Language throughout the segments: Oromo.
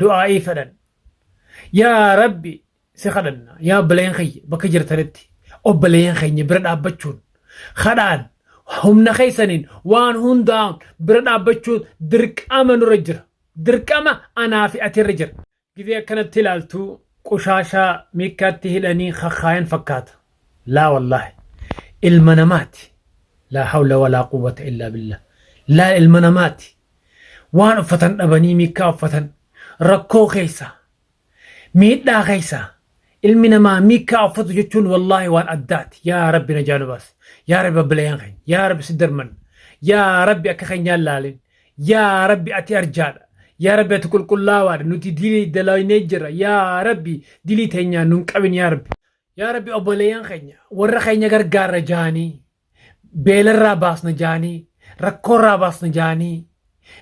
du'aa'ii fedhan yaa rabbi si kadhanna yaa obboleeyyan keenya bakka jirtanitti obboleeyyan keenya bira dhaabbachuun kadhaan humna keessaniin waan hundaa'uun bira dhaabbachuun dirqama nurra jira dirqama anaa fi ati irra jira gizee akkanatti ilaaltu qushaashaa miikkaatti hidhanii kakkaayan fakkaata laa wallaahi ilma namaati laa hawla walaa quwwata illaa billah laa ilma namaati waan uffatan dhabanii miikkaa uffatan rakkoo keessa miidhaa keessa ilmi namaa miikkaa uffatu jechuun wallaahi waan addaati yaa rabbi na jaalu baas yaa rabbi babbilayaan keenya yaa rabbi si darman yaa rabbi akka keenyaan laalin yaa rabbi ati arjaadha yaa rabbi ati qulqullaawaadha nuti dilii dalaynee jira yaa rabbi dilii teenyaan nun qabin yaa rabbi yaa rabbi obboleeyyan keenya warra keenya gargaarra jaanii beelarraa baasna jaanii rakkoorraa baasna jaanii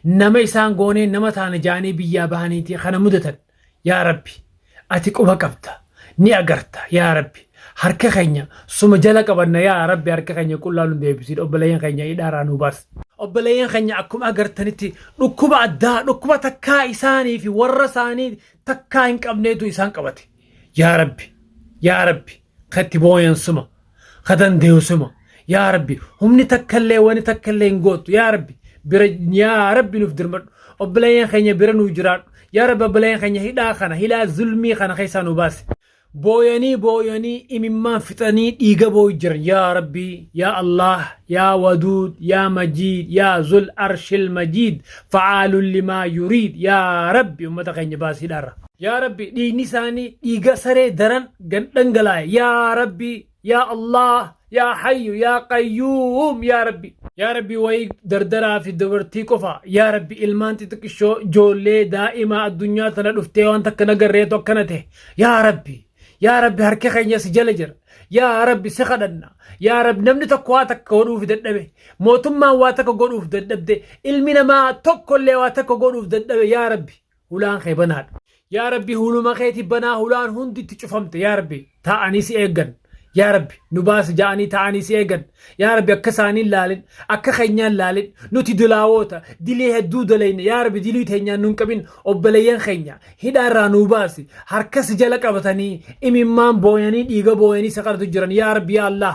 nama isaan goonee nama taana jaanii biyyaa bahaniiti kana mudatan yaa rabbi ati quba qabda ni agarta yaa rabbi harka keenya suma jala qabanna yaa rabbi harka keenya qullaa nu deebisiidha obboleeyyan keenya hidhaaraa nu baas obboleeyyan keenya akkuma agartanitti dhukkuba addaa dhukkuba takkaa isaanii fi warra isaanii takkaa hin qabneetu isaan qabate yaa rabbi yaa rabbi ka itti booyan suma ka dandeeyu suma yaa rabbi humni takkallee wani takkallee hin gootu yaa rabbi bira yaa rabbi nuuf dirmadhu obboleeyyan keenya bira nuuf jiraadhu yaa rabbi obboleeyyan keenya hidhaa kana hidhaa zulmii kana keessaa nu baasi booyanii booyanii imimmaan fixanii dhiiga booyu jiran yaa rabbi yaa allah yaa waduud yaa majiid yaa zul arshil majiid facaalun limaa yuriid yaa rabbi ummata keenya baasiidhaarra Yaa rabbi dhiigni isaanii dhiiga saree daran gan dhangalaa'e yaa rabbi yaa Allah yaa hayyu yaa qayyuum yaa rabbi. Yaa rabbi wayii dardaraa fi dubartii qofa yaa rabbi ilmaan xixiqqishoo joollee daa'imaa addunyaa tana dhuftee waan takka nagarreetu akkana ta'e yaa rabbi yaa rabbi harki keenya si jala jira yaa rabbi si kadhanna yaa rabbi namni tokko waa takka godhuuf dadhabe mootummaan waa takka godhuuf dadhabde ilmi namaa tokkollee waa takka godhuuf dadhabe yaa rabbi hulaan kee banaadha. Yaa Rabbi huluma keeti banaa hulaan hundi itti cufamte yaa Rabbi taa'anii si eegan yaa Rabbi nu baasi ja'anii taa'anii si eegan yaa Rabbi akka isaanii hin laalin akka keenyaan laalin nuti dilaawoota dilii hedduu dalayne yaa Rabbi dilii teenyaan nun qabin obboleeyyan keenya hidhaa irraa nuu baasi harka si jala qabatanii imimmaan booyanii dhiiga booyanii saqartu jiran yaa Rabbi yaa Allah